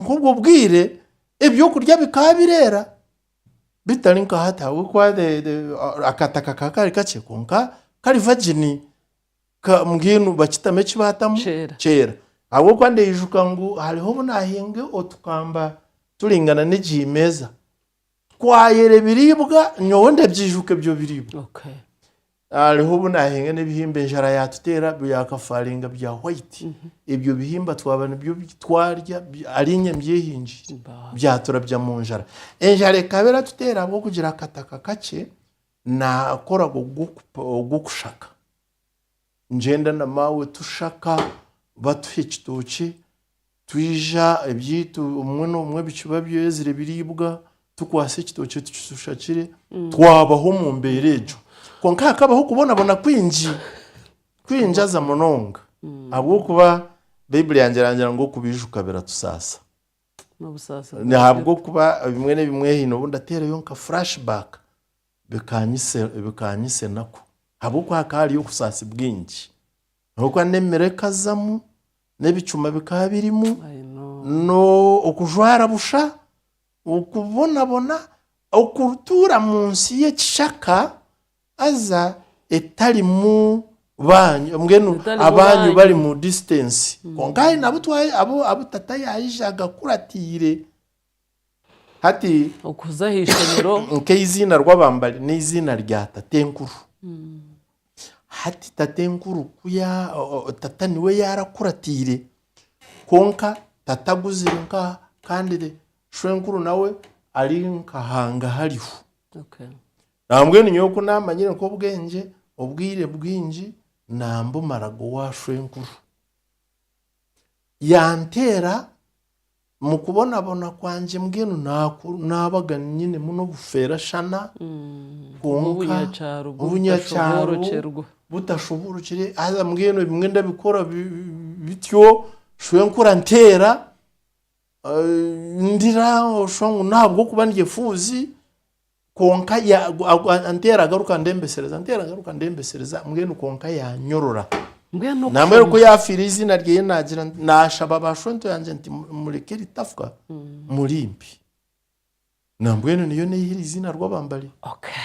Nk'obwo bwire ebyokurya bikaba bireera bitari nka hati ahabw'okuba akata kakaba kari kakye kwonka kari vagini mbwenu bakitamu eki baatamu kyeera. Ahabw'okuba ndaijuka ngu hariho obu naahinga otukamba turingana n'egi meeza Twayera ebiriibwa nyowe ndabyijuka ebyo biriibwa. Okay. Hariho obu nahinga n'ebihimba enjara yaatuteera byakafaringa bya white. Ebyo bihimba twaba nibyo bi twarya bi- ariinye mbyehingiire. Mbaho. Byaturabya mu njara. Enjara ekaba eratuteera ahabw'okugira akataka kakye, nakoraga ogw'okupa- ogw'okushaka. ningyenda na maawe tushaka batuha ekitookye twija ebyaitu obumwe n'obumwe ebicuba byezire biraibwa tukwatsa ekitookye tukishashakire twabaho omu mbeera egyo kwonka hakabaho okubonabona kwingi kwingi haza munonga ahabw'okuba baiburi yangye erangira ngu okubiijuka biratusaasa n'obusaasi bwa Nahabw'okuba bimwe na bimwe haine obu ndateerayo nka flash back bikaanyitsa enaku, ahabw'okuba hakaba hariyo obusaasi bwingi. Ahabw'okuba n'emere ekazamu, n'ebicuma bikaba birimu, n'okujwara busha, okubonabona, okutuura mu nsi y'ekishaka haza etarimu baanyu, mbwenu abaanyu bari mu disiitensi. Kwonka haihi n'abu tata yaija agakuratiire. Hati, Okuza aha ishomero. nk'eiziina rw'abambari n'eiziina rya Tatenkuru. Hati Tatenkuru ku ya, o- o- o, tata niwe yaarakuratiire, kwonka tata aguzire nk'aha, kandi re- shwenkuru nawe ari nka hangahariho. Okay. Nawe mbwenu nyowe ku naamanyire nk'obwengye, obwire bwingi naambumaraga owa shwenkuru. Yanteera Mu kubonabona kwangye mbwenu naaku naabaga nyinemu n'obufeera shana kwonka Obunyakyaro bu- obunyakyaro butashoboorokyerwa. butashoboorokire haza mbwenu ebimwe ndabikora bi- bi- bityo shwe nkura nteera eh, ndira osha ngu n'ahabw'okuba ndi efuuzi Kwonka ya, a, nteera agaruka ndembesereza, nteera agaruka ndembesereza, mbwenu kwonka yaanyorora. Mbwenu oku Nambwera oku Shamweli- yaafiire eiziina ryeye naagira nti- naashaba ba shwento yangye nti "Mu- mureke eritafa muri mpi. Nambwenu niyo neihire eiziina rw'abambari. Okay.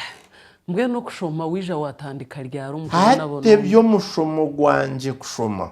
Mbwenu okushoma waija waatandika ryari omu Hati by'omushoma ogwangye kushoma.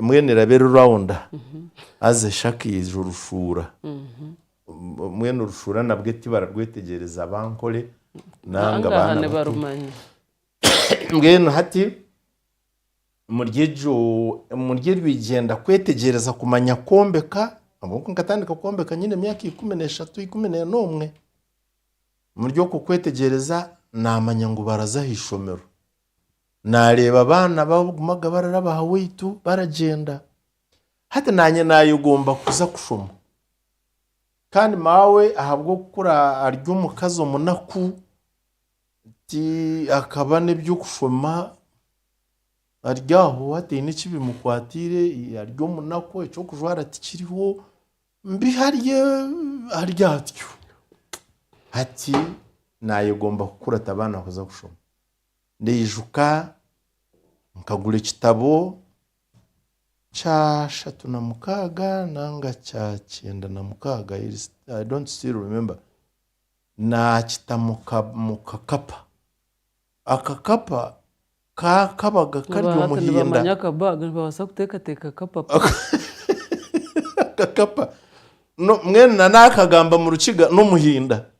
Mbwenu eraba eri rawunda haza eshakaize orushuura. Mbwenu orushuura nabwe tibararwetegyereza abankore nainga abaana bato. Mbwenu hati omuri eryo igyenda kwetegyereza kumanya kwombeka, ahabw'oku nkatandika kwombeka nyine emyaka ikumi n'eshatu ikumi n'ena omwe, omuri okwo kwetegyereza naamanya ngu baraza aha ishomero. naareeba abaana bagumaga bararaba aha waitu baragyenda. Hati naanye naayegomba kuza kushoma. Kandi maawe ahabw'okukura ari omukazi omunaku, ti akaba n'eby'okushoma ari aho hataine eki bimukwatiire, ari omunaku, eky'okujwara tikiriho, mbi hari hari atyo. Hati naayegomba kukura atabaana kuza kushoma. ndaijuka nkagura ekitabo kya ashatu na mukaaga nanga kya kyenda na mukaaga I don't still remember. Naakita mu ka- mu kakapa. Akakapa ka- kabaga kari Aba hati omuhinda. nibamanya aka bag nibabaasa kuteekateeka akapapa Akakapa. No- Mbwenu na naakagamba mu Rukiga n'omuhinda.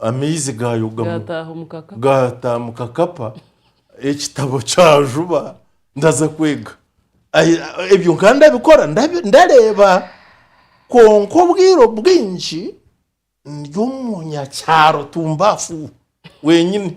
Amaizi gaayogamu gaata mu kakapa, ekitabo kyajuba ndaza kwega. Ebyo nkaba ndabikora ndareeba kwonka obwire obwingi ndi omu nyakyaro tumbafu wenyine.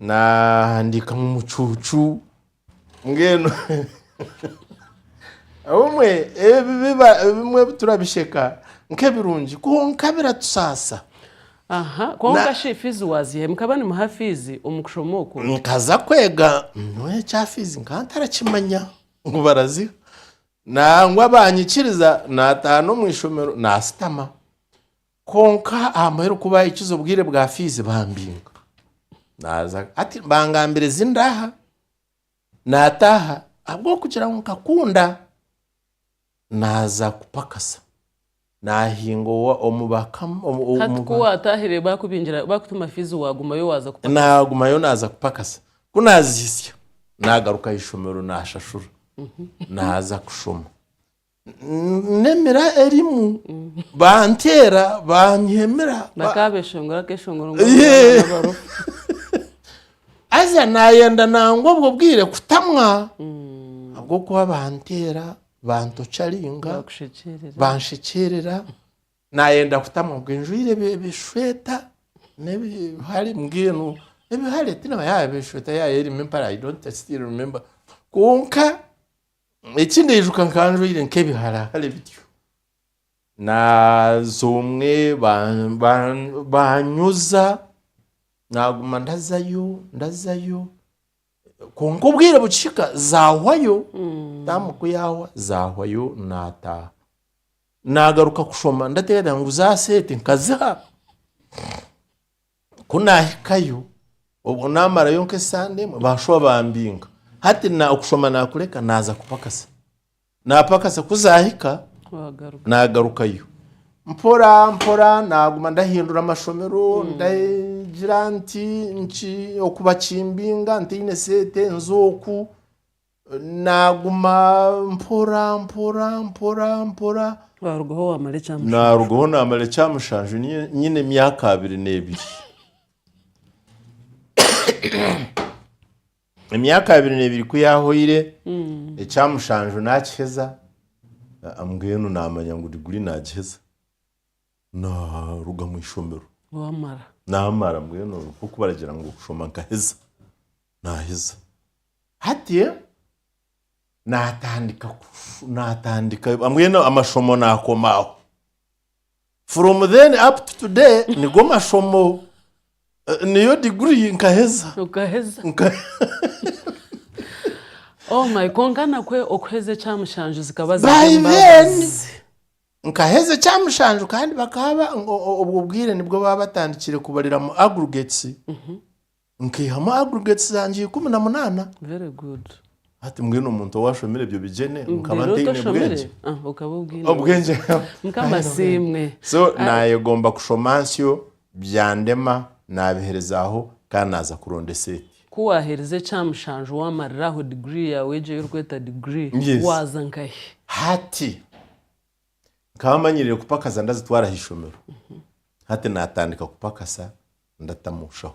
Naahandiika mu mucuucu mbwenu obumwe ebi biba ebimwe ebi turabisheka nk'ebirungi kwonka biratusaasa. Aha, kwonka shi fiizi waaziha? Mukaba nimuha fiizi omu kushoma okwo? Nkaza kwega nyowe ekya fiizi nkaba ntarakimanya ngu baraziha. Nangwa baanyikiriza naataaha n'omu ishomero naasitama. Kwonka aha muheru ku baahikize obwire bwa fiizi baambinga. Naaza ati, Bangambire zi ndaaha. Naataaha ahabw'okugira ngu nkakunda. Naaza kupakasa. Naahinga owa omu bakama omu omu- Hati ku waataahire baakubingira baakutuma fiizi waagumayo waaza kupaka. naagumayo naaza kupakasa. Ku naazihitsya, naagaruka aha ishomero naashashura. Naaza kushoma. nemira erimu banteera banyiha emira bakabeshongora akeshongoro ngu Yee. abarofa haza nayenda nangwa obwo bwire kutamwa ahabw'okuba banteera bantocaringa bakushekyerera banshekyerera nayenda kutamwa obwo njwaire ebi- ebishweta n'ebihare mbwenu ebihare tinamanya yaba eshweta yaba erimu empare i don't still remember kwonka Eki ndaijuka nkaba njwaire nk'ebiharahare bityo, naaza omwe ba- ba- baanyoza, naaguma ndazayo ndazayo, kwonka obwire bukihika zaahwayo, daama ku yaahwa zaahwayo naataaha. Naagaruka kushoma ndateereza ngu za seete nkaziha. Ku naahikayo, obwo naamarayo nk'esande emwe, baashuba bambinga. Hati na okushoma naakureka naaza kupakasa. Naapakasa ku zaahika Wagaruka. naagarukayo. Mpora mpora naaguma ndahindura amashomero, ndagira nti nki oku bakimbinga, ntaine sente, nza oku. Naaguma mpora mpora mpora mpora. Waarugaho waamara ekyamushanju. Naarugaho naamara ekyamushanju nyine emyaka abiri n'ebiri. Emyaka abiri n'ebiri ku yaahwaire, ekyamushanju naakiheza, mbwenu naamanya ngu diguri naagiheza. naaruga mu ishomero waamara naamara mbwenu nk'oku baragira ngu kushoma nkaheza naaheza hati naatandika kufu- naatandika mbwenu amashomo naakomaho from then up to today nigo mashomo eh, niyo diguri nkaheza okaheza Nka- oh my konka nakwe okuheza ekyamushanju zikaba ziri by then embabazi Nkaheza ekya mushanju kandi bakaba ba- o- o- obwo bwire nibwo baba batandikire kubariramu aggregates nkaihamu aggregates zangye ikumi na munana very good hati mbwenu omuntu owashomire ebyo bigyene nkaba Rero ntaine otoshomire? bwengye Ah, okaba obwine obwengye mukama asiimwe so Ah, nayegomba kushoma nsyo Byandema naabihirizaaho kandi naaza kuronda eseeti. Ku waaherize ekya mushanju waamarira aho digirii yaawe egyo ei orikweta digirii, waaza nkahi? Hati nkaba manyiriire kupakaza ndazitwara aha ishomero. Hati naatandika kupakasa ndatamu bushaho.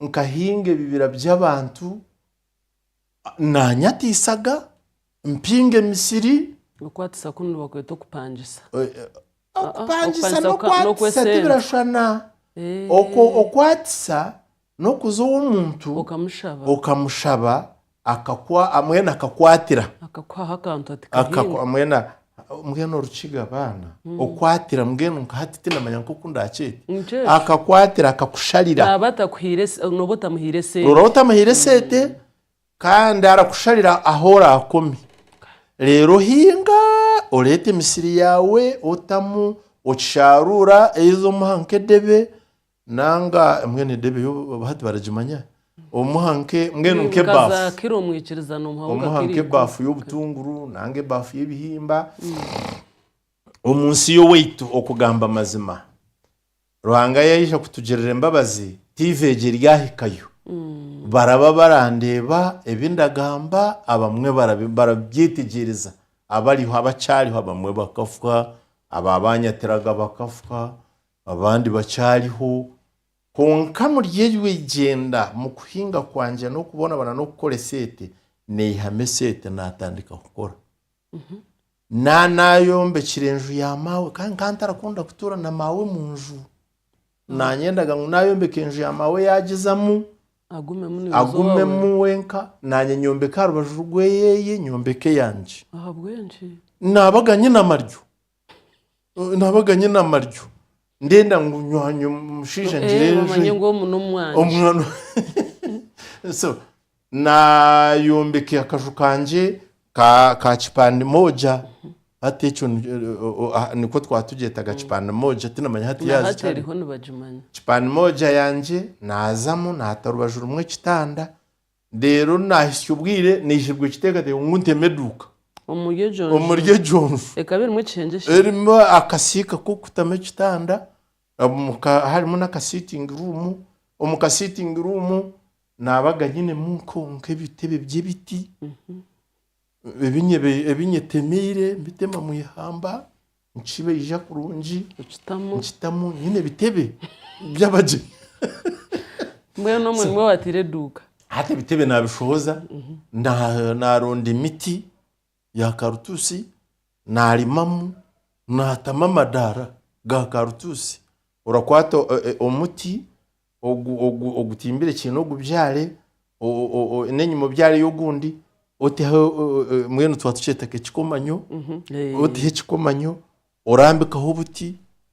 nkahinga ebibira by'abantu, naanyatiisaga, mpinga emisiri. Okwatisa kunu nibakweta okupangisa. Eh, eh, ah, ah, okupangisa n'okwatisa tibirashwana. Eh. Okwo okwatisa n'okuza ow'omuntu okamushaba Akakwa, mbwenu akakwatira. Akakwaho akantu ati Akakwa, kahinga. mbwenu, mbwenu Orukiga baana. Okwatira, mbwenu nka hati tinamanya nk'oku ndaakyete. Nikyo ekyo. Akakwatira, akakusharira. Naaba atakuhaire se- nooba otamuhaire Nooba sente. otamuhaire sente, kandi arakusharira ahu oraakome. Reero ohinga, oreeta emisiri yaawe, otamu, okishaaruura, either omuha nk'edebe, Nanga mbwenu eda ebeyo hati baragimanya omuha nke mbwenu nke ebafu omuha nke ebafu yobutunguru nanga ebafu yebihimba omunsi yowaitu okugamba amazima ruhanga yaija kutugirira embabazi TV egyo eri ahikayo baraba barandeba ebindagamba abamwe barabyetegyeereza abariho abakyariho abamwe bakafa ababanyatiraga bakafa Abandi bakyariho, kwonka omuri eryo eigyenda mukuhinga kwangye n'okubonabona n'okukora eseete, naihamu eseete natandika kukora. Na nayombekire enju ya maawe kandi nkaba ntarakunda kutuura na maawe munju. Nanyendaga ngu nayombeka enju ya maawe yagizamu, Agumemu niwe wawe. agumemu wenka, nanye nyombeke aharubaju rweye, nyombeke eyangye. Ahabw'enki? Nabaga nyine amaryo. nabaga nyine amaryo ndenda ngu nywanye omushaija Eh, ngire bamanye ngu omu n'omwanya omwana so nayombeka akaju kangye ka ka kipande moja hati ekyo ni- o- o- ah, nikwo twaba tugyetaga kipande moja tinamanya hati na yazi hati kyari. eriho nibagimanya kipande moja yangye nazamu nata orubaju rumwe ekitanda Reero naahitsya obwire naihirwa ekiteekateeko ngu nteme eduuka Omuri egyo nju. omuri egyo nju. Ekaba erimu ekishengye ki? Erimu akasiika k'okutamu ekitanda, omu ka- harimu n'akasiitingi ruumu. Omu kasiitingi ruumu naabaga nyinemu nko- nk'ebitebe by'ebiti ebi nyebi- ebi nyetemeire, mbitema mu ihamba. Nikibaija kurungi Nikitamu. nikitamu nyine ebitebe by'abagyenyi. Mbwenu omwe nimwo wateire eduuka. Hati ebitebe naabishohoza, na- naaronda emiti ya karutusi, naarimamu, naatamu amadaara ga karutusi. Orakwata o- e- omuti, ogu ogu ogutimbire kiine ogubyare n'enyima obyareyo ogundi oteho mwenu tuba tukyeta nk'ekikomanyo oteho ekikomanyo orambikaho obuti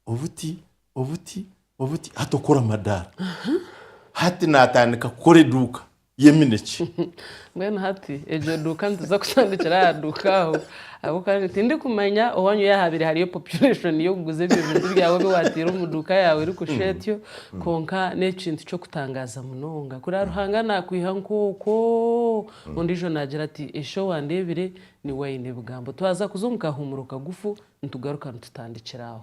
obuti obuti obuti hati okora amadaara hati naatandika kukora eduuka y'eminekye. Mbwenu hati egyo duuka nituza kutandikira aha duuka aho ahabw'okuba tindikumanya owanyu yaahabaire hariyo population y'okuguza ebyo bintu byawe ebi waataire omu duuka yaawe erikushusha etyo. Kwonka n'ekintu ky'okutangaaza munonga kuriya Ruhanga naakwiha nk'okwo ondiijo naagira ati, Ishe owandeebire niwe aine ebigambo. Twaza kuza omu kahuumuro kagufu nitugaruka nitutandikira aho.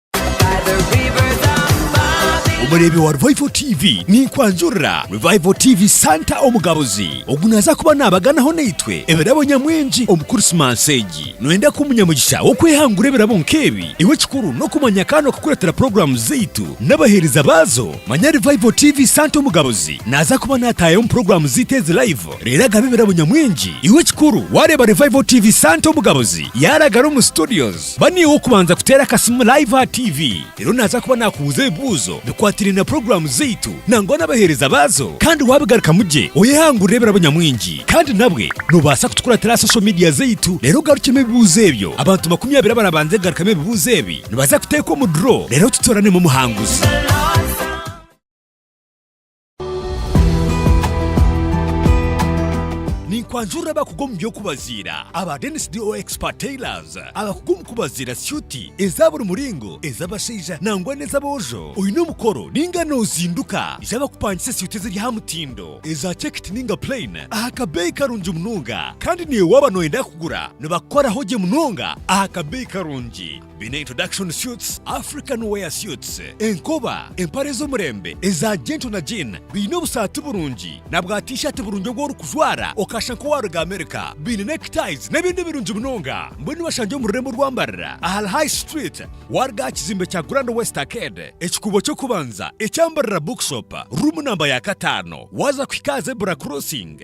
Omureebi wa Revival TV ninkwanjurira Revival TV Santa Omugabuzi ogu naza kuba nabaganaho naitwe ebirabo nyamwingi omu Kurisimansi egi. Noyenda kuba omunyamugisha w'okwehangura ebirabo nk'ebi? Iwe ekikuru n'okumanya kandi n'okukureetera puroguramu zaitu n'abaheereza baazo. Manya Revival TV Santa Omugabuzi naza kuba nataayayo omu puroguramu zaitu ezi laivu reero agabe ebirabo nyamwingi. Iwe ekikuru wareeba Revival TV Santa Omugabuzi yaragara omu Studios, Ba niiwe w'okubanza kuteera akasimu live aha TV. Reero naaza kuba naakubuuza ebibuuzo bikwatiraine na puroguraamu zaitu nangwa n'abaheereza baazo. Kandi waabigarukamu gye oyehangurire ebirabo nyamwingi. Kandi nabwe noobaasa kutukuratira aha social media zaitu reero ogarukyemu ebibuuzo ebyo. Abantu makumi abiri abaraabanze kugarukamu ebibuuzo ebi nibaza kuteekwa omu draw reero tutooranemu omuhanguzi. Ninkwanjurira abakugu omu by'okubaziira aba Dennis DO Expert Tailors abakugu omu kubaziira syuti eza buri muringo, ez'abashaija nangwa n'ez'aboojo. Oine omukoro ninga nozinduka? Ija bakupangise syuti eziri aha mutindo, eza chekiti ninga plain aha kabeeyi karungi munonga. Kandi naiwe waaba noyenda kugura nibakukoraho gye munonga aha kabeeyi karungi. Biine introduction suits, African wear suits, enkoba, empare z'omurembe eza gentle na jean, biine obusaati burungi na bwa t-shirt burungi obu orikujwara okashusha nk'owaaruga America, biine neckties n'ebindi birungi munonga. Mbwenu bashangye omu rurembo rw'ambarira ahari High Street waaruga aha kizimbe kya Grand West Arcade, ekikuubo ky'okubanza eky'Ambarira Bookshop, ruumu namba ya kataano waaza kuhika aha Zebra Crossing.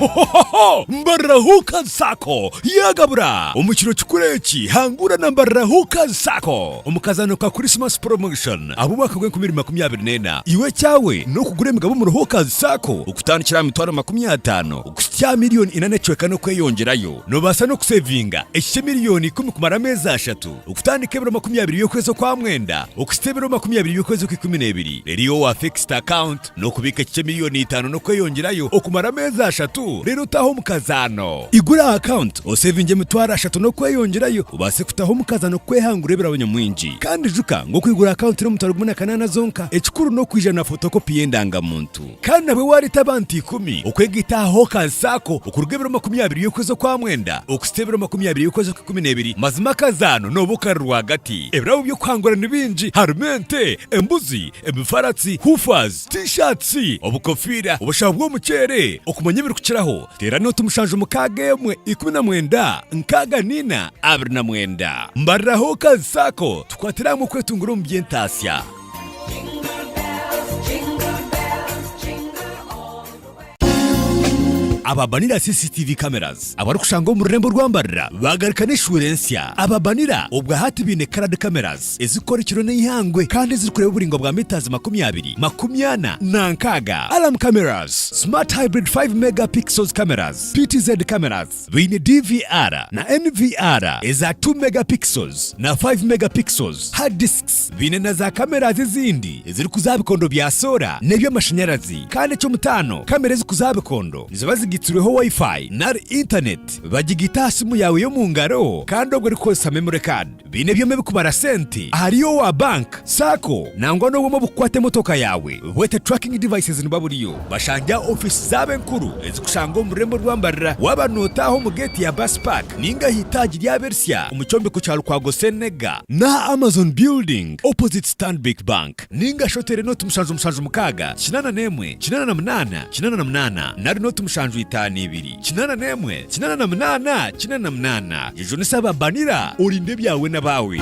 Hohohoho! Mbarira Hookers Sacco yaagabura! Omu kiro kikuru eki, hangura na Mbarira Hookers Sacco omu kazaano ka Christmas Promotion ab'omwaka gw'enkumi ibiri makumi abiri n'ena. Iwe ekyawe n'okugura emigabo omuri Hookers Sacco okutandikira aha mitwaro makumi ataano kuhitsya aha milioni ina n'ecweka n'okweyongyerayo. Noobaasa n'okuseevinga eki ky'emilioni ikumi kumara ameezi ashatu, okutandika ebiro makumi abiri by'okwezi okwa mwenda okuhitsya ebiro makumi abiri by'okwezi okw'ikumi n'ebiri, reero iwe waafikisti akaunti. N'okubiika ekice miliyoni itaano n'okweyongyerayo okumara ameezi ashatu, reero otaahe omukazaano. Igura aha akawunti oseevinge emitwaro ashatu n'okweyongyerayo obaase kutaho omukazaano kwehangura ebirabo nyamwingi. Kandi ijuka ngu okwigura akawunti eri omu mitwaro gumwe na kanaana zonka, ekikuru n'okwiija na fotokopi y'endangamuntu. Kandi nabwo waareeta abantu ikumi okwegaita aha hookazi saako okuruga ebiro makumi abiri y'okwezi okwa mwenda okuhitsya ebiro makumi abiri y'okwezi okwa ikumi n'ebiri, mazima akazaano nooba okari rwagati. Ebirabo by'okuhangura ni bingi, harimu ente, embuzi, ebifaratsi, hoofers, T-shirts, obukofiira, obushaho bw'omuceere, okumanya ebirikukiraho, teera nooti mushanju mukaaga emwe ikumi na mwenda nkaaga naina abiri na mwenda. Mbariraho okazi saako tukwatire hamwe okwetunguura omu by'entaatsya. Aba Banira CCTV Cameras abarikushanga omu rurembo rwa Mbarira baagaruka n'eshuura ensya. Aba Banira obwahati baine Coloured Cameras ezirikukora ekiro n'eihangwe kandi ezirikureeba oburaingwa bwa metres makumi abiri, makumi ana na nkaaga. Alarm Cameras, Smart Hybrid 5 Mega Pixels Cameras, PTZ Cameras, Baine DVR na NVR eza two megapixels na five megapixels, hard disks. Baine na za cameras ezindi ezirikuza aha bikondo bya soora n'eby'amashanyarazi. Kandi eky'omutaano, kamera ezikuza aha bikondo niziba zigaitsirweho Wi-Fi nari Internet. Bagigaita aha simu yaawe y'omu ngaro kandi obwo orikukoresa memory card. Baine ebyoma ebikubara sente ahari owa bank, sacco nangwa n'obwoma obukukwata emotoka yaawe bwete tracking devices niba buriyo bashange aha ofiisi zaabo enkuru ezikushangwa omu rurembo rwa Mbarara waaba nootaaha omu geeti ya bus park ninga aha itaagi ry'abersya omu kyombeko kya Lukwago Senega n'aha Amazon building opposite Stanbic Bank ninga shi oteere nooti mushanju mushanju mukaaga kinaana n'emwe kinaana na munaana kinaana na munaana nari nooti mushanju itaano ibiri. Kinaana n'emwe, kinaana na munaana, kinaana na munaana. Jujunisa aba Banira, orinde ebyawe n'abaawe.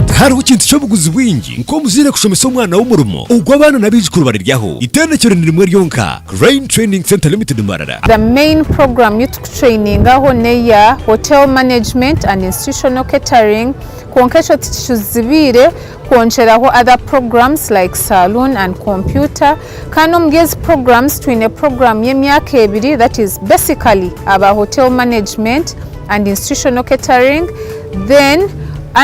Tihariho kintu ky'obuguzi bwingi nk'omuzaire kushomesa omwana we omurimo ogu abaana n'abaijukuru bariryaho. Itendekero ni rimwe ryonka, Crane Training Centre Limited Mbarara. The main program yu tukutrainingaho neya Hotel Management and Institutional Catering kwonka ekyo tikicuzibiire kwongyeraho other programs like Saloon and Computer Kandi omuri ezi programs twine program y'emyaka ebiri that is basically aba hotel management and institutional catering then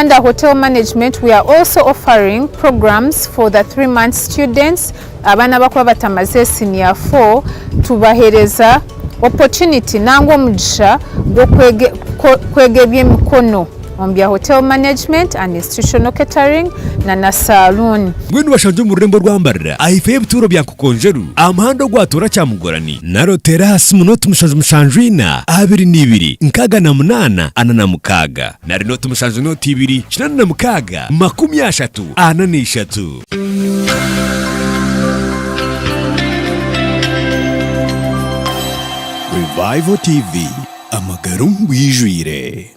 under hotel management we are also offering programs for the three months students abaana abakuba batamaze senior four tubahereza opportunity nangwa omugisha gw'okwega eby'emikono. omu bya Hotel Management and Institutional Catering na na Saluuni. Mbwenu bashangye omu rurembo orwambarira aha ifo y'ebituuro bya Nkokonjeru, aha muhanda ogwatoora Kyamugorani, nari oteere aha simu nooti mushanju mushanju ina, abiri na ibiri, nkaaga na munaana, ana na mukaaga. Nari nooti mushanju nooti ibiri, kinaana na mukaaga, makumi ashatu, ana na ishatu. Revival TV, amagara omu bwijwire.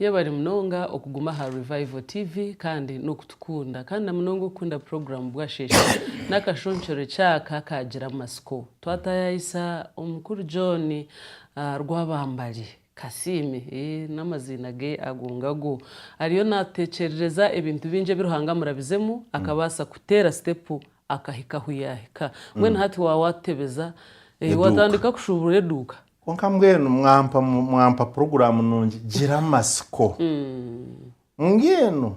Yebare munonga okuguma aha Revival TV kandi n'okutukunda kandi na munonga okukunda puroguramu Bwasheshe n'akashonkyero eky'aka kaagira amatsiko. Twataayaayisa Omukuru John Rwabambari Kasiime, eeh n'amaziina ge ago ngago, ariyo naatuteekyerereza ebintu bingi ebi Ruhanga amurabizemu akabaasa kuteera sitepu akahika ahu yaahika. Mbwenu hati waaba waatutebeza, eeh Eduuka. waatandika kushuuburura eduuka? Kwonka mbwenu mwampa mwampa puroguraamu nungi gira amatsiko mbwenu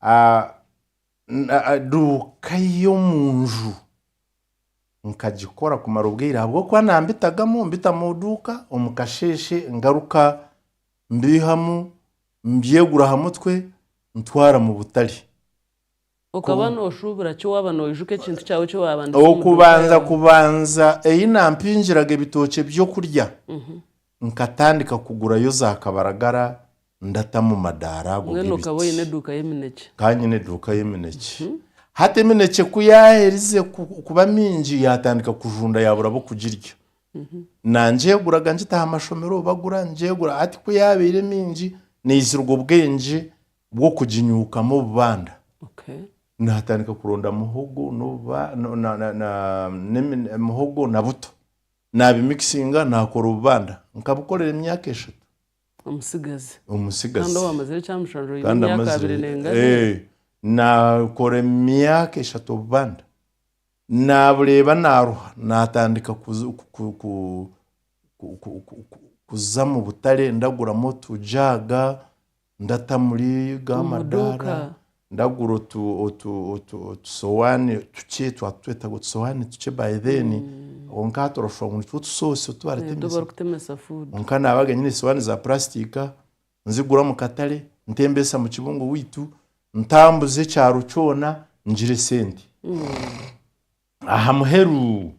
ah, n- ah, ah, duuka y'omu nju nkagikora kumara obwire ahabw'okuba nambitagamu mbita mu duuka omu kasheeshe ngaruka mbiihamu mbyegura aha mutwe ntwara mu butare Okaba nooshuubira ki waaba noijuka ekintu kyawe eki waabandise omu duuka Okubanza yaawe? kubanza ei nampingiraga ebitookye by'okurya, nkatandika kugurayo za kabaragara ndata mu madaara ago Mbwenu okaba oine g'ebiti. eduuka y'eminekye. Nkaba nyine eduuka y'eminekye. Hati eminekye ku yaaherize ku- kuba mingi yaatandika kujunda yaabura ab'okugirya. Nangyeguraga ngita aha mashomero, bagura ngyegura. Hati ku yaabaire mingi, naizirwe obwengye bw'okuginyuukamu obubanda nihatandika kuronda muhogo muhogo na buto nabimikisinga nakora obubanda nkabukorera emyaka eshatu omutsigazi omutsigazi kandi amazire nakora emyaka eshatu obubanda nabureeba naruha natandika kuza mubutare ndaguramu otujaaga ndata muri ga Omu madaara duuka. ndagura otu- otu- otu- otusowaani tukye twatutwetaga otusowaani tukye by then kwonka hati orashusha ngu nitwo tusoosi otu Otu baritemesa barikutemesa food. kwonka naabaga nyine esowaani za purasitika nzigura omu katare ntembeesa mu kibungo waitu ntambuza ekyaro kyona ngire esente Aha muheru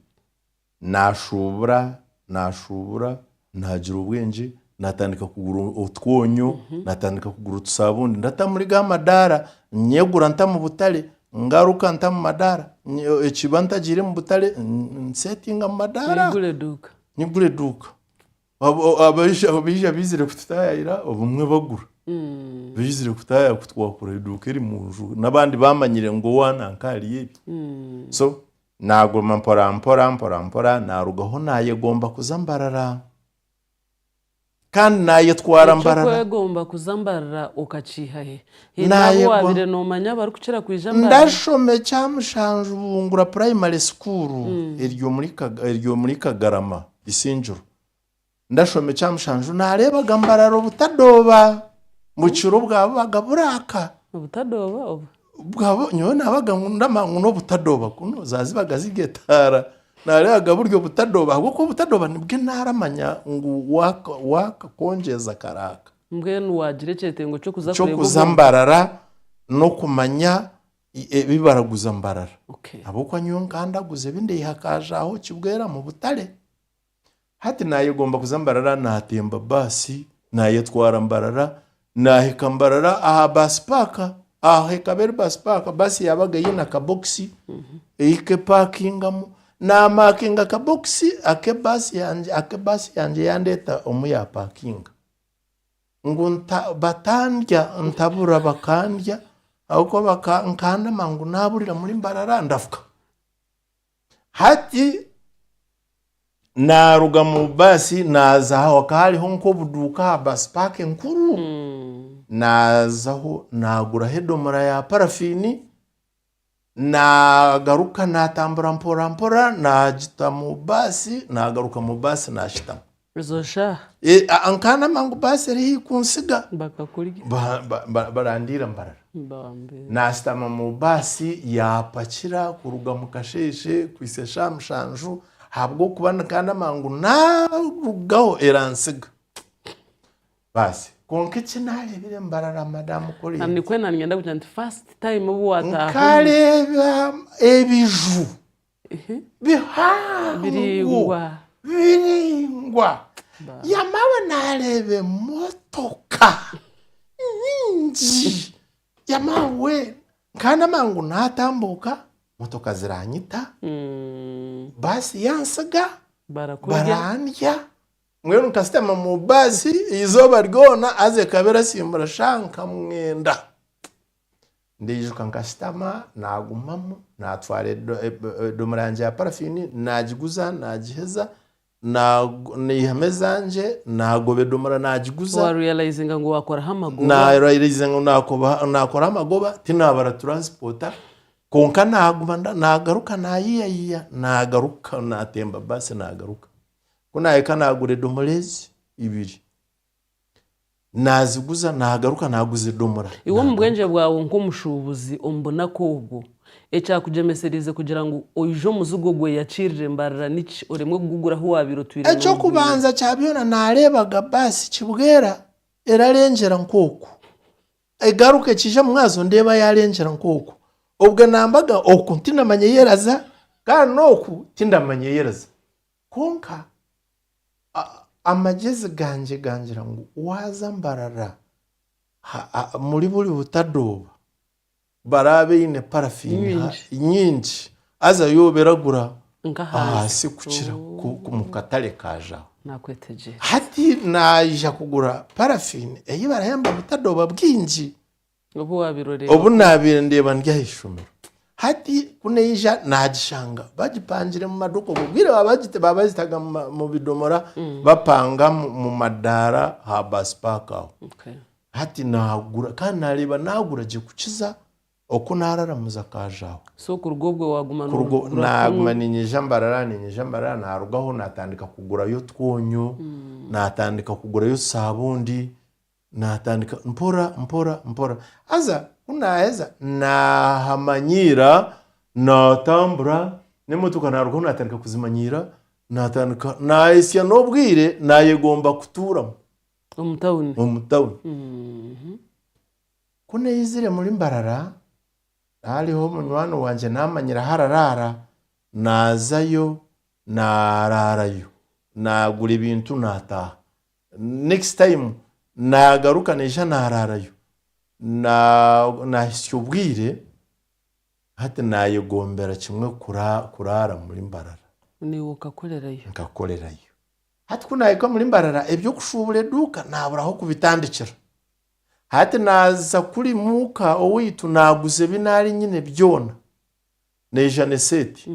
naashuubura, naashuubura, naagira obwengye, naatandika kugura otwonyo, naatandika kugura otusaabundi. Ndata muri ga madaara, nyegura nta mu butare, ngaruka nta mu madaara. Ekiba ntagiire mu butare, nseetinga mu madaara. Nyigura eduuka. Abo- abaija aho baija baizire kututaayayira obumwe bagura baizire kutaayaya kutwakura eduuka eri mu nju n'abandi baamanyire ngu owa nanka hariyo ebi so naaguma mporampora mporampora naarugaho naayegomba kuza mbarara kandi naayetwara mbarara ekyokwegomba kuza mbarara okakiihahe haine Naayegwa- abu waabire noomanya abarikukira kwija mbarara ndashoma ekyamushanju bungura primary school eri omuri Kaga- eri omuri kagarama Isingiro. Ndashoma ekya mushanju naareebaga mbarara obutadooba ngu ekiro bwaba bubaga buraaka. Obutadooba obu? Bwaba nyowe naabaga ngu ndamanya ngu n'obutadooba kunu za zibaga ziri etaara. Naareebaga buri obutadooba ahabw'okuba obutadooba nibwe naaramanya ngu waaka waaka kongyeza karaaka. Mbwenu waagira ekyetengo ky'okuza kureeba obwo. Ky'okuza mbarara n'okumanya ebi baraguza mbarara Okay. ahabw'okuba nyowe nkandaguza ebi ndaiha akaajaho kibwera mu butare hati naayegomba kuza mbarara naatemba baasi naayetwara mbarara naahika mbarara aha baasi paaka aho ekaba eri baasi paaka baasi yaabaga eine akabokisi ehika epaakingamu naamaakinga akabokisi ake baasi yangye ake baasi yangye yandeeta omu yaapakinga ngu batandya ntabura bakandya ahabw'okuba nkandema ngu naaburira muri mbarara ndafuka. Hati naaruga mu baasi naaza aha hakaba hariho nk'obuduuka aha baasi paaka enkuru, naazaho naaguraho edomoora ya parafiini naagaruka naatambura mporampora naagita mu baasi naagaruka mu baasi naashitama ezo shaaha Eh, a- a- nkaana amangu baasi eri haihi kuntsiga bakakurya Ba- ba- ba- barandiira mbarara bambi naasitama mu baasi yaapakira kuruga mu kasheeshe kuhitsya shaaha mushanju ahabw'okuba nikaana amangu naarugaho erantsiga Baasi. Kwonka eki naareebire mbarara madamu Collins. Nikwo na niinyenda kugira nti first time obu waataaha omu. Nkareeba ebiju bihango. Biraingwa. Biraingwa. Baasi. Yamara naareeba emotoka nyingi. Yamara weena nkaba ndamanya ngu naatambuuka motoka ziraanyita, baasi yantsiga, Barakurya. barandya, Mbwenu nkashutama mu baasi eizooba ryona haza ekaba erasimbura shaaha nka mwenda. Ndaijuka nkashutama naagumamu naatwara edomoora yangye ya parafiini naagiguza naagiheza naihamu ezangye naagoba edomoora naagiguza. Warealizinga ngu waakoraho amagoba? Narealizinga ngu naakoraho amagoba tinaabara turansipoota kwonka naaguma naagaruka naayiyayiya naagaruka naatemba baasi naagaruka. Ku naahika naagura edomora ezi ibiri. Naaziguza naagaruka naaguza edomora. Iwe omu bwengye bwawe nk'omushuubuzi omu bunaku obwo, ekyakugyemeseriize kugira ngu oije omuzigo ogweyakirire mbarira niki oremwe kugugura ahu waabaire otwire noogwire? Eky'okubanza kya byona naareebaga baasi kibwera erarengyera nk'oku egaruka ekiija mu mwazyo ndeeba yaarengyera nk'oku. Obwe naambaga oku tinamanya ei eraza kandi n'oku tindamanya ei eraza. Kwonka amagyezi gangye gangira ngu waaza mbarara muri buri butadooba baraba baine parafiini nyingi haza yo obe eragura ahansi kukira omu katare ka Jaho. Hati naija kugura parafiini ei barahemba butadooba bwingi. Obu waabaire oreeba Obu ku. naabaire ndeeba ndi aha ishomero. Hati ku naija naagishanga bagipangire mu maduuka. Obwo bwire ba- bagita- baabazitaga mu ma- mu bidomora bapanga mu- mu madaara ha baasi paaka aho. Okay. Hati naagura kandi naareeba naagura gye kukiza oku naararamuza akaaja aho. So kuruga obwo waaguma Kuruga noogura kunu. naaguma niinyija mbarara niinyija mbarara naarugaho naatandika kugurayo otwonyo, naatandika kugurayo saabundi, Naatandika mpora mpora mpora haza ku naaheza naahamanyiira, naatambura n'emotoka naarugaho naatandika kuzimanyiira, naatandika naahitsya n'obwire naayegomba kutuuramu Omu tawuni. omu tawuni. Mhm. Ku naizire muri Mbarara, hariho omunywani wangye naamanyire ahu araraara, naazayo naaraarayo, naagura ebintu naataaha. Next time nagaruka naija naraarayo. Nahitsya obwire hati nayegombera kimwe kuraara muri Mbarara. Naiwe okakorerayo? Nkakorerayo. Hati ku nahika omuri Mbarara eby'okushuubura eduuka naabura ah'okubitandikira. Hati naaza kuri muuka owaitu naaguza ebi naari nyine byona. Naija n'eseeti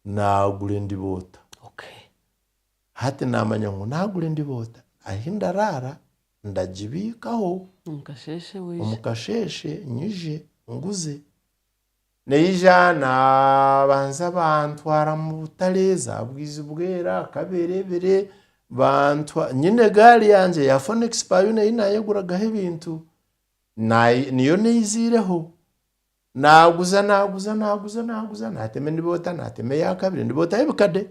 naagura endiboota. Hati naamanya ngu naagura endiboota ahi ndaraara ndagibiikaho omu kasheeshe nyije nguze. Naija naabanza bantwara mu butare zaabwizi bwera, kaberebere, nyine egaari yangye ya Fonex Payona ei naayeguragaho ebintu niyo naizireho. Naaguza naaguza naaguza naaguza naatema endiboota naatema eya kabiri endiboota y'ebikade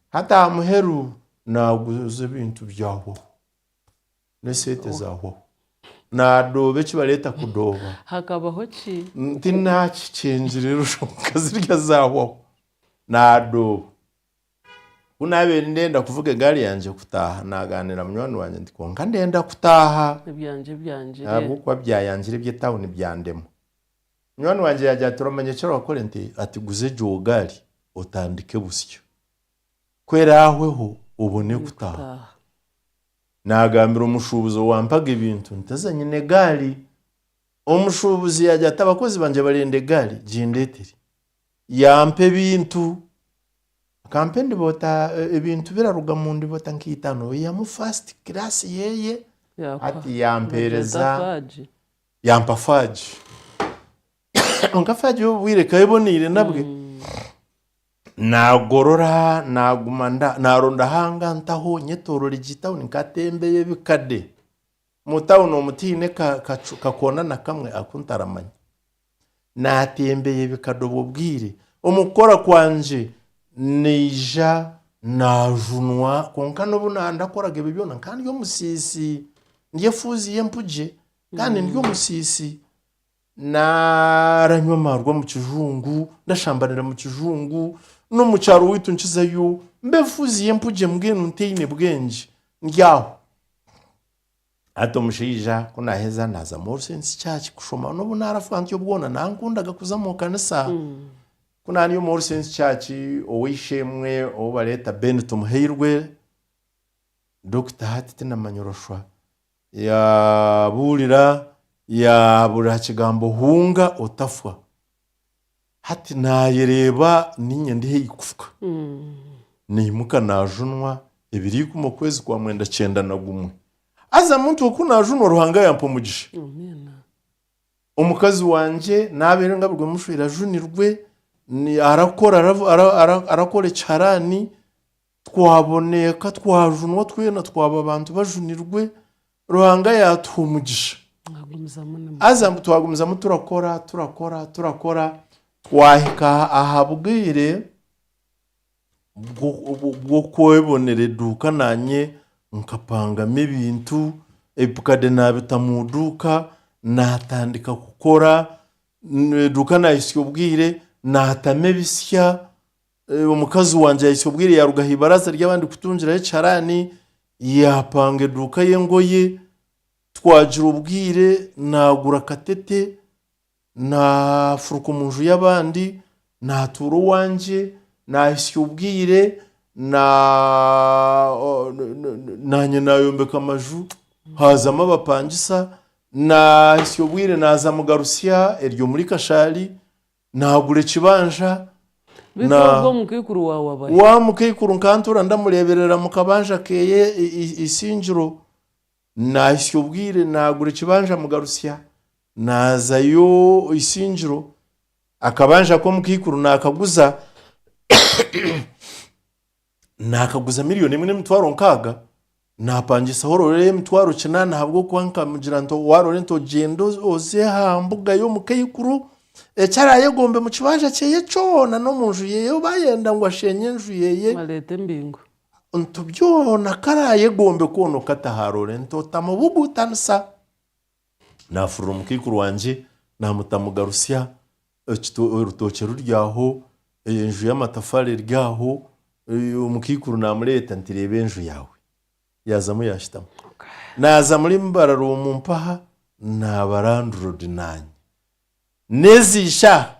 hati aha muheru naaguza ebintu byahwaho n'esente zaahwaho naadooba eki bareeta kudooba hakabaho ki nti naakikyengire eroshwa kwonka zirya zaahwaho naadooba Ku naabaire ndenda kuvuga egaari yangye kutaaha, naagaanira munywani wangye nti, Kwonka ndenda kutaaha! Ebyangye byangire. Ahabw'okuba byayangire eby'etauni byandema. Munywani wangye yaagira ati, Oramanya eki orakore? Nti, Ati guza egyo gaari otandike busya. Ku eraahweho obone kutaaha. Naagambira omushuubuzi owampaga ebintu nti, Haza nyine egaari. Omushuubuzi yaagira ati, Abakozi bangye barenda egaari, gindeetere. Yaampa ebintu. Akampa endiboota, ebintu biraruga mu ndiboota nka itano. Eihamu first class yeye, hati yampeereza, yaampa faagi. Kwonka faagi obwo bwire ekaba eboneire nabwe. Naagorora, naaguma nda, naaronda ahu angantaho nyetoroora egi tawuni nkatembeya ebikade. Omu tawuni omu tihaine ka- kacu, kakoona na kamwe aku ntaramanya. Naatembeya ebikade obwo bwire. Omu kukora kwangye naija naajunwa kwonka n'obu naaba ndakoraga ebyo byona nkaba ndi omusiisi. Ndi efuuzi y'empugye kandi ndi omusiisi. Naaranywa amaarwa omu kijungu, ndashambanira omu kijungu, n'omu kyaro waitu nkizayo mbe efuuzi y'empugye mbwenu ntaine bwengye. Ndi aho. Hati omushaija ku naaheza naaza Moore Saints Church kushoma n'obu naarafa ntyo bwona nankundaga kuza mu kanisa. Ku naari omu All Saints Church ow'eishe-emwe ou bareeta Ben Tumuheirwe, Dokita hati tinamanya orashwa, yaabuurira yaabuurira aha kigambo hunga otafwa. Hati naayereeba niinye ndi haihi kufuka. Naimuka naajunwa ebiri ikumi okwezi kwa mwenda kyenda na gumwe. Haza muntu oku naajunwa Ruhanga yampa omugisha. Amiina. Omukazi wangye naabeire ngabirwe mushwere ajunirwe, ni- arakora aravu- ara- ara- arakora ekiharaani. Twaboneka, twajunwa twena twaba abantu bajunirwe, Ruhanga yaatuha omugisha. Mwagumizamu nimu. Haza mbu twagumizamu turakora, turakora, turakora, twahika aha- aha bwire bw'o- bw'o- bw'okwebonera eduuka naanye nkapangamu ebintu, ebikade naabita mu duuka, naatandika kukora, eduuka naahitsya obwire, naatamu ebitsya, Omukazi wangye yahitsya obwire yaaruga aha ibaraza ry'abandi kutungiraho ekiharaani, yaapanga eduuka y'engoye. Twagira obwire naagura akatete, naafuruka omu nju y'abandi naatuura owangye. Naahitsya obwire naanye naayombeka amaju haazamu abapangisa. Naahitsya obwire naaza mugarutsya, eryo omuri Kashaari. Naagura ekibanja Beitu na ogwo omukaikuru waawe abahe? wa mukaikuru nkantuura ndamureeberera mu kabanja keeye i- i- Isingiro. Naahitsya obwire naagura ekibanja Mugarutsya, naazayo Isingiro. Akabanja aku omukaikuru naakaguza. naakaguza milioni emwe n'emitwaro nkaaga, naapangisaho orore y'emitwaro kinaana ahabw'okuba nkamugira nti waarore nti ogyende oze aha mbuga y'omu kaikuru, eki araayegombe mu kibanja kyeye kyona n'omu nju yeye ou baayenda ngu asheenye enju yeye, Areete embingo. nti byona aku araayegombe kwona okataho arore nti otamubuguutanisa. Naafurira omukaikuru wangye, naamutamugarusya, Orutookye ruri aho, enju y'amatafaari eri aho, omukaikuru naamureeta nti reeba enju yaawe. Yaazamu yaashutama. Naaza murimu eibara ry'omu mpaha naaba randiroodi naanye. N'ezi ishaaha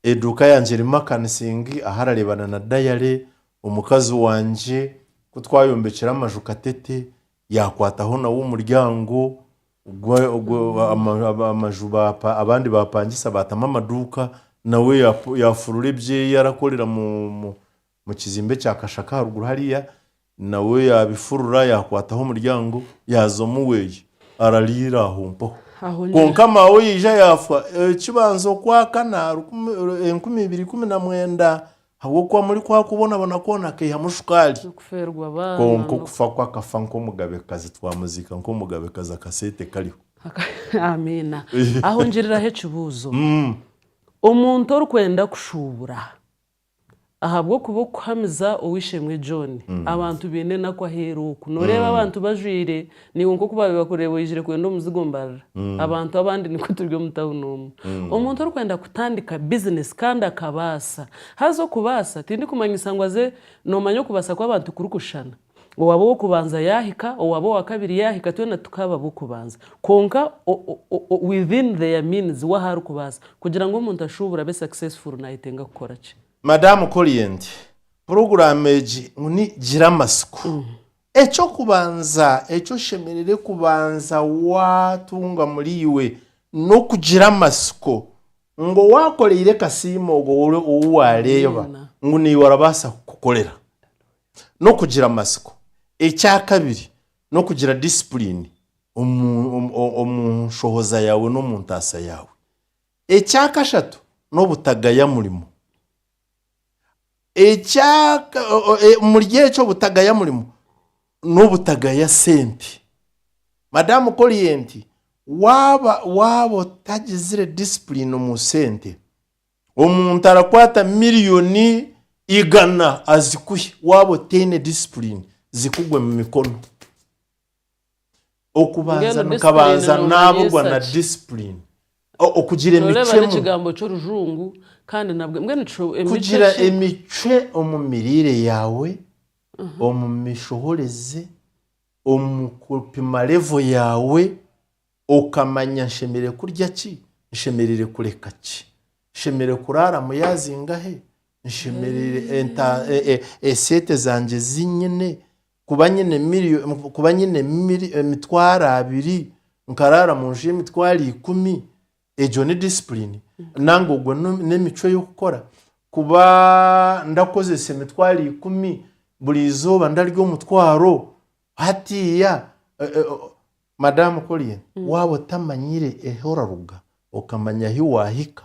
eduuka yangye erimu akanisingi ahu arareebana na dayare, omukazi wangye, ku twayombekire amaju katete, yaakwataho nawe omuryango, Ogwo ogwo ama- ama- amaju bapa- abandi bapangisa baatamu amaduuka nawe yafu- yafurura ebyeyi arakorera mu mu mukizimbe ekya kashaka aharuguru hariya nawe yabifurura yakwataho omuryango yaaza omuweeye arariira aho mpaho Aho niho kwonka maawe yaija yaafa ekibanza okwakana rukumi- enkumi ibiri ikumi na mwenda Ahabw'okuba muri kwaha kubonabona kwona akaihamu shukaari. Kwonka okufa kwe akafa nk'omugabekazi, twamuziika nk'omugabekazi akaseete kariho. Amiina. Aho ngiriraho ekibuuzo. Omuntu orikwenda kushuubura ahabw'okuba okuhamiza Ow'eishe-emwe John, abantu baine enaku aheeru oku. Nooreeba abantu bajwaire Naiwe nk'oku baabaire bakureeba oijire kwenda omuzigo mbarira abantu abandi nikwo turi omu tawuni omu. Omuntu orikwenda kutandika bizinesi kandi akabaasa, haza okubaasa tindikumanyisa ngu aze noomanya okubaasa kw'abantu kurikushushana. Owaaba ow'okubanza yaahika, owaaba owa kabiri yaahika twena tukaaba ab'okubanza. Kwonka within their means we ahu arikubaasa. Kugira ngu omuntu ashuubure abe successful naayetenga kukora ki? Madam Corient, puroguraamu egi ngu ni Gira Amatsiko Eky'okubanza eki oshemereire kubanza waatunga muriiwe n'okugira amatsiko ngu owaakoreire kasiimo ogwo ou waareeba ngu naiwe arabaasa kukukorera. N'okugira amatsiko. Ekyakabiri n'okugira disipuriini omu nshohoza yaawe n'omu ntaasa yaawe. Ekyakashatu n'obutagaya murimo. Omuri ekyo obutagaya murimo n'obutagaya sente. Madamu Korienti, Waaba waaba otagizire disipulini omu sente, omuntu arakwata miriyoni igana azikuhe, waaba otaine disipulini zikugwe mu mikono. Okubanza nikabanza naaburwa na disipulini, okugira emicwe emwe. Kugira emicwe omu miriire yaawe, omu mishohoreze, omu kupima revo yaawe, okamanya nshemereire kurya ki, nshemereire kureka ki, nshemereire kuraaramu yaazinga he, esente zangye ezi nyine. Kuba nyine miri, kuba nyine miri, emitwaro abiri, nkaraara mu nju y'emitwaro ikumi, egyo ni disipulini? Nanga ogwo ni- n'emicwe y'okukora? Kuba ndakozesa emitwaro ikumi, buri izooba ndarya omutwaro, hatiiya, e- e, o- Madaamu Collier, waaba otamanyire ahu oraruga, okamanya ahu waahika,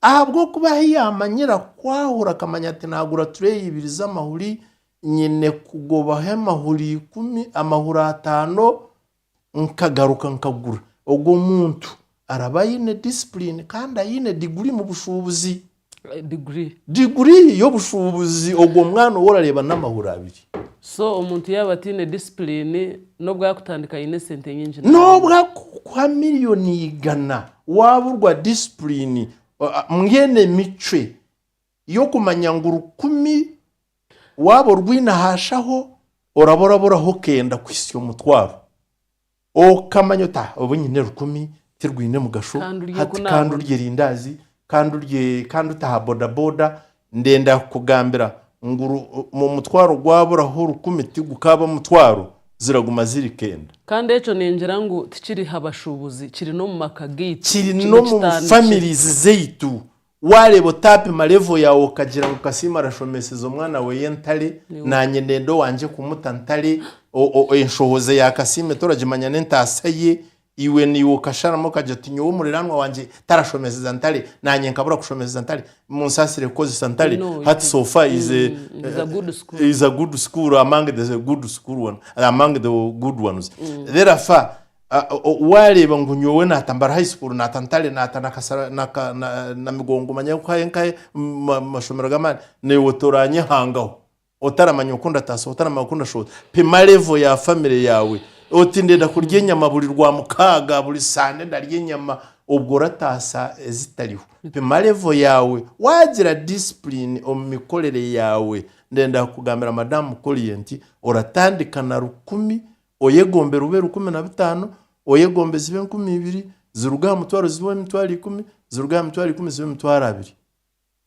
Ahabw'okuba ahi yaamanyira kwahura akamanya ati naagura tureeyi ibiri z'amahuri, nyine kugobaho amahuri ikumi, amahuri ataano nkagaruka nkagura. Ogwo muntu araba aine disipulini kandi aine diguri mu bushuubuzi. Diguri? Diguri y'obushuubuzi ogwo mwana ou orareeba n'amahuri abiri. So omuntu yaaba ataine disipulini, n'obu arikutandika aine esente nyingi nabi? N'obu arikukuha miriyoni igana, Waaburwa disipulini mbwenu emicwe y'okumanya ngu rukumi waaba orwine aha shaho oraba oraburaho okenda kuhitsya omutwaro. Okamanya oti aha obu nyine rukumi tirwine mugasho, hati ka ndurye erindaazi, ka ndurye ka ndute aha bodaboda, Ndenda kukugambira ngu ru, mu omutwaro gwaburaho rukumi tigukaaba mutwaro, ziraguma ziri kenda. Kandi ekyo ningira ngu tikiri ha bashuubuzi, kiri n'omu maka gaitu, Kiri kiine n'omu kitandikiro. families zaitu. Waareeba otaapima level yaawe okagira ngu Kasiimo arashomeeseza omwana weeye entare, Niwe. naanye ndenda owangye kumuta ntare, o, o, enshohoza ya Kasiime toragimanya n'entaasa ye, Iwe naiwe okasharamu okagira oti, Nyowe omuriranwa wangye tarashomeseza ntare, nangye nkabura kushomeseza ntare. Munsaasire kukozesa ntare. No, it Hats is, off is a, mm, it is a good school. is a good school among the good school one, among the good ones. Therefore, a- a- o- waareeba ngu nyowe naata Mbara High School, naata Ntare, naata na Kasara, na Ka- na- Namigongo, manya nkahe nkahe ma- mashomero g'amaani, naiwe toranyehangaho. Otaramanya oku ndataasa, otaramanya oku ndashohoza. Pima level ya family yaawe. Oti ndenda kurya enyama buri Rwamukaaga, buri Sande ndarya enyama. Obwo orataasa ezitariho. Pima level yaawe. Waagira discipline omu mikorere yaawe, ndenda kugambira Madam Mukolie nti oratandika na rukumi, oyegombera ube rukumi na bitaano, oyegombe zibe enkumi ibiri, ziruge aha mutwaro zibe emitwaro ikumi, ziruge aha mitwaro ikumi zibe emitwaro abiri.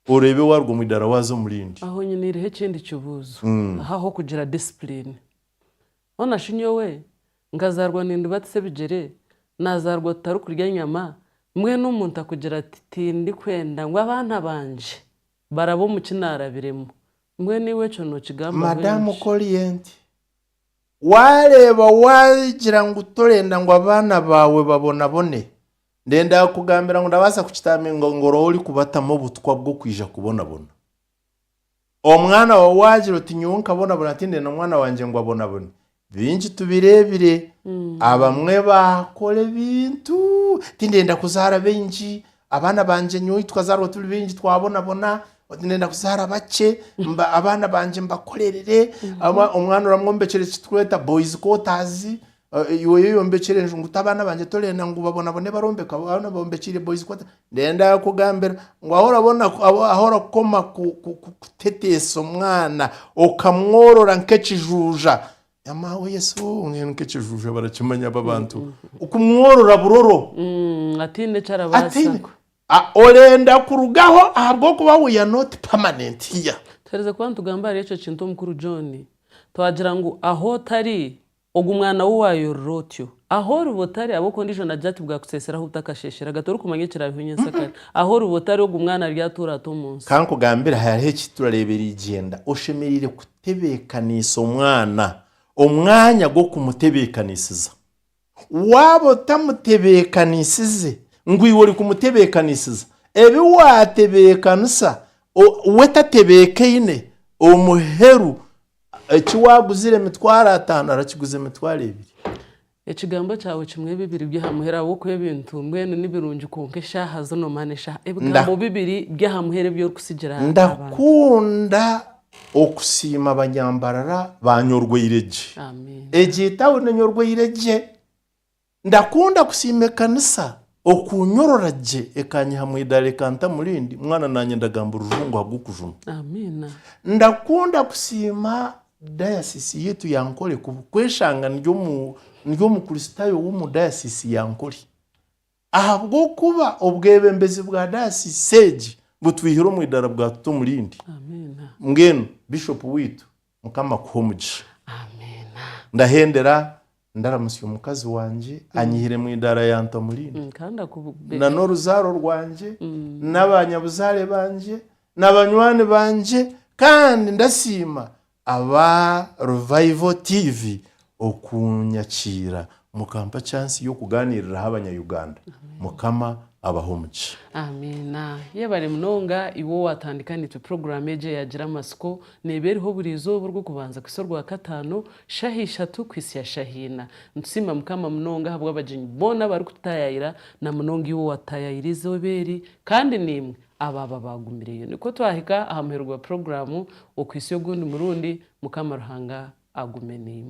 Oreebe waaruga omu idaara waaza omu rindi. Aho nyiniireho ekindi kibuuzo. Aho ah'okugira disipulini, hoona shi nyowe nkazaarwa nindibatisa ebigyere, naazaarwa tutarikurya nyama, mbwenu omuntu akugira ati, Tindikwenda ngu abaana bangye barabe omu ki naarabiremu. Mbwenu iwe ekyo nookigambaho Madaamu enki? Korienti, Waareeba waagira ngu torenda ngu abaana baawe babonabone, Ndenda kukugambira ngu ndabaasa kukitaaminga ngu oraba orikubatamu obutwa bw'okwija kubonabona. Omwana waawe waagira oti nyowe nkabonabona tindenda mwana wangye ngu abonabone. Bingi tubireebire, abamwe baakora ebintu, tindenda kuzaara baingi, abaana bangye nyowe ei tukazaarwa turi baingi twabonabona, oti ndenda kuzaara bakye, mba- abaana bangye mbakorerere. Aba- Omwana oramwombekyera eki turikweta boys quarters, Iwe oyeyombekyera enju ngu tabaana bangye torenda ngu babonabone barombeka abaana obombekiire boys quarter ndenda kugambira ngu ahu orabona ahu orakoma kuteteesa omwana okamworora nkekijuuja yamawe yesu mbwenu nkekijuuja barakimanya abo abantu kumworora buroro ataine eki arabaasa orenda kurugaho ahabwokuba we you're not permanent here. Tuhereze kuba nitugamba ahari ekyo kintu omukuru John twagira ngu ahu otari Ogu mwana wou wayorora otyo? Aho oriba otari, ab'oku ondiijo nagira ati, Bwakuseesera ahu butakasheesherega, torikumanya ekiraabeho nyentsya kare. Aho oriba otari, ogu mwana ari atuura ata omu nsi? Ka nkugambire, hariho eki turareeba erigyenda. Oshemereire kutebeekaniisa omwana, omwanya gw'okumutebeekaniisiza. Waaba otamutebeekaniisize ngu iwe orikumutebeekaniisiza, ebi waatebeekanisa we tatebeekaine, omuheru Eki waaguzire emitwaro ataano arakiguza emitwaro ebiri. Ekigambo kyawe kimwe bibiri by'aha muheru ahabw'okuba ebintu mbwenu ni birungi kwonka eshaaha zino mana eshaaha. Ebigambo bibiri by'aha muheru ebi orikutsigira abantu. Ndakunda okusiima abanyambarara ba Nyorwoire gye. Egyo etauni Nyorwoire gye. Ndakunda kusiima ekanisa okunyorora gye ekanyiha mu idaara ekanta mu rindi, mwana nanye ndagamba orujungu ahabw'okujuma. Amiina. Ndakunda kusiima dayasisi yaitu ya Ankole kubu kweshanga ndi omu ndi omukristaayo w'omu dayasisi ya Ankole ahabw'okuba obwebembezi bwa dayasisi egi butwihire omu idaara bwatuta omu rindi. Amiina. Mbwenu Bishop waitu mukama akuhe omugisha. Amiina. Ndahendera Ndaramutsya omukazi wangye, anyihire mu idaara yanta omu rindi, na n'oruzaaro rwangye, na baanyabuzaare bangye, na banywani bangye, kandi ndasiima aba Revival TV okunyakiira mukampa chance y'okugaaniiriraho abanya-Uganda. Mukama abahe omugisha. Amiina. Yebare munonga iwe owatandika nitwe puroguramu egi eyagira amatsiko. Neeba eriho buri izooba orw'okubanza kuhitsya orwakataano. Shaha ishatu kuhitsya shaha ina. Nitusiima Mukama munonga ahabw'abagyenyi boona abarikututayaayira, na munonga iwe owaatutayaayira eizooba eri, kandi naimwe abaaba baagumireyo. Nikwo twahika aha muheru gwa puroguraamu. Okuhitsya ogundi murundi, Mukama Ruhanga agume naimwe.